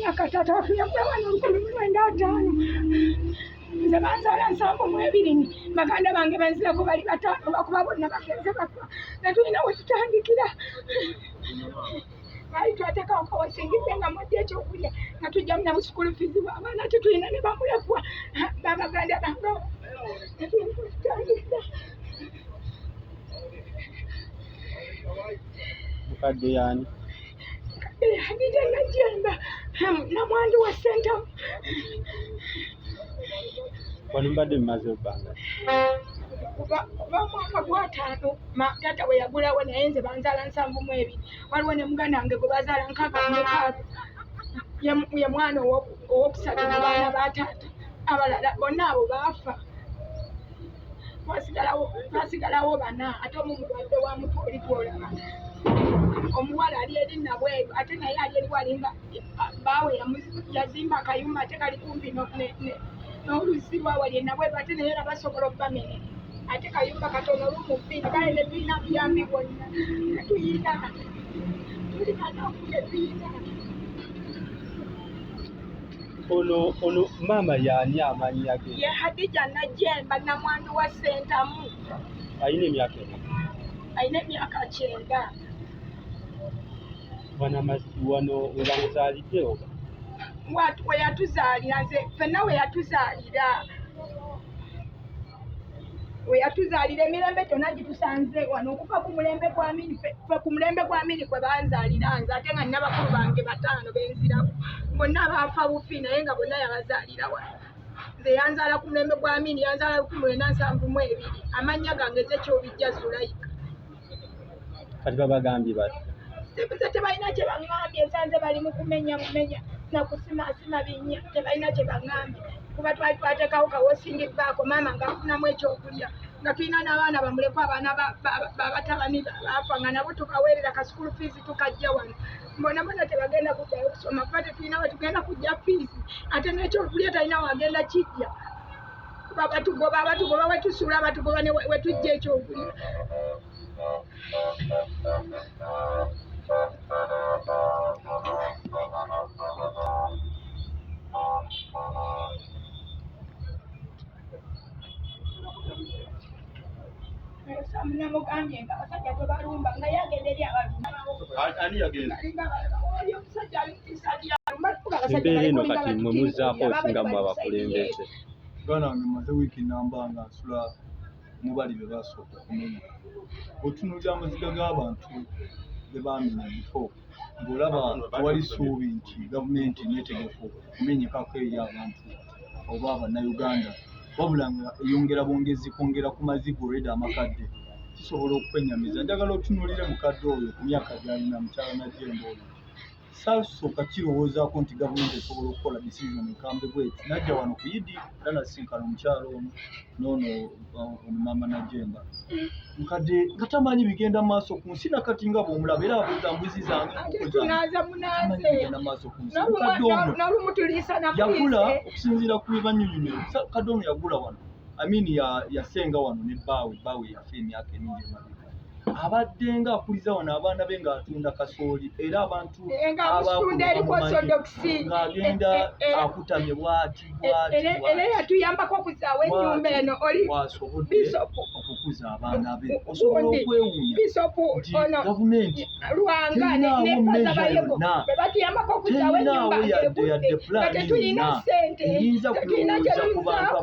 myaka taata waffe yakula abaana olukumi mu lwenda ataano nze banzaala nsanvu mu ebiri baganda bange benzirako bali bataano bakuba bonna bagenze bafa netulina wetutandikira baali twatekawo kawasingidde nga mudde ekyokulya nga tujjamu nabu sukulu fizi bwabaana tetulina ne bamulekwa babaganda bange netulina wetutandikira mukadde yani Eh, Hadija Najjemba namwandu wa Ssentamu. Wano mbadde mumaze ebbanga kuva mwaka gwataano taata we yagulawo naye nze banzaala nsanvu mu ebiri waliwo ne muganda wange gwe bazaala nkaaga mukaaga ye mwana owokusatu mu baana ba taata abalala bonna abo baafa twasigalawo twasigalawo bana ate omu mulwadde wa mutu oli gwolaba omuwala ali eri nabweru ate naye ali eriwo alinga baawe yazimba akayumba ate kali kumpi n'oluzzi lwawali enabweru ate naye era basobola okubamene ate kayumba katono olumufiiri kale netulina buyambi bwonna netuyina tulina nokutetuyina ono ono maama yaani amannya ge ye hadija najemba namwandu wa sentamu alina emyaka ena alina emyaka kyenda wano webamuzaalidde oba weyatuzaalira nze fenna weyatuzaalira we yatuzaalira emirembe gyonna gitusanze wano okuva ku mulembe gwa mini fe ku mulembe gwa mini kwe banzaalira nze ate nga nina bakulu bange bataano benziraku bonna baafa bufi naye nga bonna yabazaalira wano nze yanzaala ku mulembe gwa mini yanzaala lukumi lwena nsanvu mu ebiri amannya gange zekyobijja zulayika kati babagambye bati tebuze tebalina kyebaŋambye nsanze bali mu kumenya mumenya nakusimasima binya tebalina kyebaŋambye kuba twali twatekawo kawosingi baako maama ngafunamu ekyokulya nga tulina n'abaana bamulekwa abaana babatabani baafa nga nabo tubaweerera ka sukulu fiizi tukajja wano mbona bona tebagenda kuddayo okusoma kuba tetulina wetugenda kujja fiizi ate n'ekyokulya talina wagenda kijja batugoba batugoba wetusuula batugoba wetujja ekyokulira namugambye nga abasajja tebalumba nga yagenda eri abalumbaomusajja embeera eno kati mwe muzzaako osinga mu abakulembeze muganda wange maze wiiki namba nga nsula mubali be basooka okumenya otunuulira amaziga g'abantu be baamenya bifo ng'olaba tewali ssuubi nti gavumenti neetegefu okumenyekako eri abantu oba bannayuganda wabula nga eyongera bwongezi kwongera ku maziga olweda amakadde kisobola okukwenyamiza njagala otunuulire mukadde oyo ku myaka gyalina mukyala najjemba oyo saasooka kirowoozaako nti gavumenti esobola okukola decision ekambe bweti najja wano ku idi era nasisinkana omukyalo ono noono uh, omumaama najemba nkadde nga tamanyi bigenda mu maaso ku nsi nakati nga bwomulaba era abuuza mbuzi zangeagenda maaso ku nsi kadde ono yagula okusinziira ku bibanyunyunyiro kadde ono yagula wano Amin yasenga ya wano ne bbaawe bbaawe yafa emyaka emingi emabega abadde nga akuliza wano abaana be ng'atunda kasooli era abantu eh, eh, ng'agenda eh, akutamye bwati bwatiera yatuyambako okuzaawo enyumba eno oliwasobodde okukuza abaana be osobola okwewunya nti gavumenti lwanga nempaza bayego bwebatuyambako okuzawo enyumba egudde nga tetulina sente tetulina kyetuzako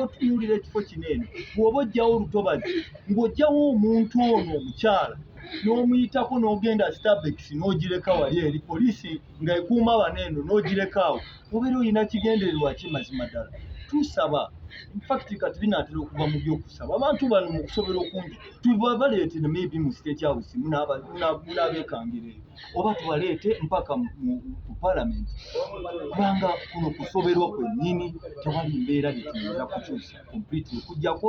otunuulira ekifo kino eno bwoba ojjawo olutobazi ng'ojjawo omuntu ono omukyala n'omuyitako n'ogenda starbex n'ogireka wali eri poliisi nga ekuuma bano eno n'ogireka awo obeera olina kigendererwa ki mazima ddala tusaba infact kati binaatera okuva mu byokusaba abantu bano mu kusobola okungi tubabaleete maybe mu state house munabekangira eyo oba tubaleete mpaka ku parliament kubanga kuno kusoberwa kwennyini tewali mbeera byetuyinza kukyusa completely okujjako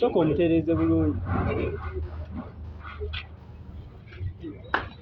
Soko omutereeze bulungi.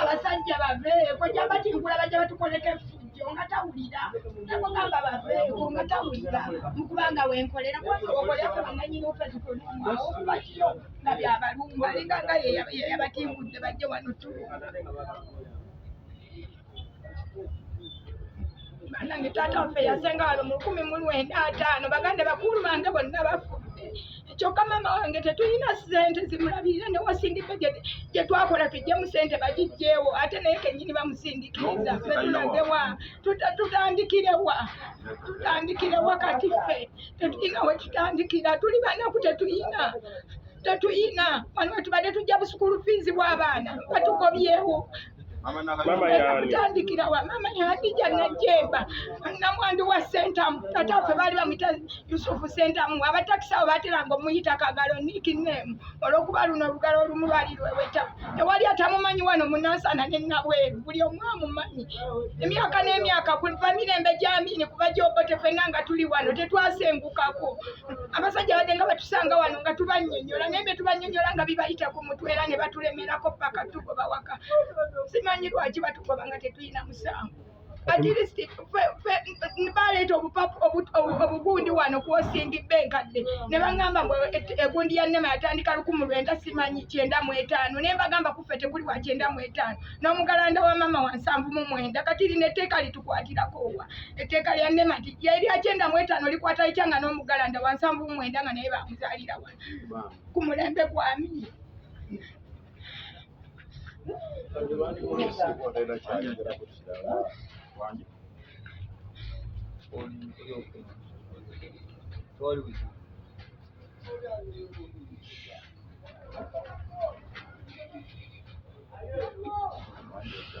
abasajja baveeko jamba tinkulaba gye batukoleka efujjo nga tawulira nakugamba baveeko nga tawulira mukubanga wenkolera kubaokoleaananyinofezikonumwaokubakiyo nga byabalumba alinga nga yeyabatimbudde bajje wano tulumba nange taata waffe yasenga wano mu lukumi mu lwenda ataano baganda bakulu bange bonna bafudde kyokka maama wange tetulina sente zimulabirira newasindika gye twakola tujjemu sente bagijjeewo ate naye kenyini bamusindikiriza fetulagewa tutandikirewa tutandikirewa kati ffe tetulina wetutandikira tuli banaku tetulina tetuyina wano wetubadde tujja busukulu fiizi bw'abaana batugobyewo kutandikira wa mama yandija najemba namwandu wa sentamu tata ffe baali bamuyita yusufu sentamu abatakisi abo bateranga omuyita kagalo niki nemu olwokuba luno olugalo olumu lwali lweweta tewali atamumanyi wano munansana nenabweru buli omu amumanyi emyaka n'emyaka kuva mirembe gyamini kuva gyobote fenna nga tuli wano tetwasengukako abasajja badde nga batusanga wano nga tubanyonyola naye betubanyonyola nga bibayita ku mutwe era ne batulemerako paka tugoba waka simanyi lwaki batugoba nga tetulina musango atirisiti baleeta obugundi wano kwosingi bba enkadde ne bagamba mbu egundi ya nema yatandika lukumu lwenda simanyi kyenda mu etaano naye bagamba kuffe tekuli wa kyenda mu etaano n'omugalanda wa maama wansanvu mu mwenda kati lino etteeka litukwatirako wa etteeka lya nema nti yerya kyenda mu etaano likwata litya nga n'omugalanda wansanvu mumwenda nga naye bamuzaalira wa ku mulembe gwami Thank you.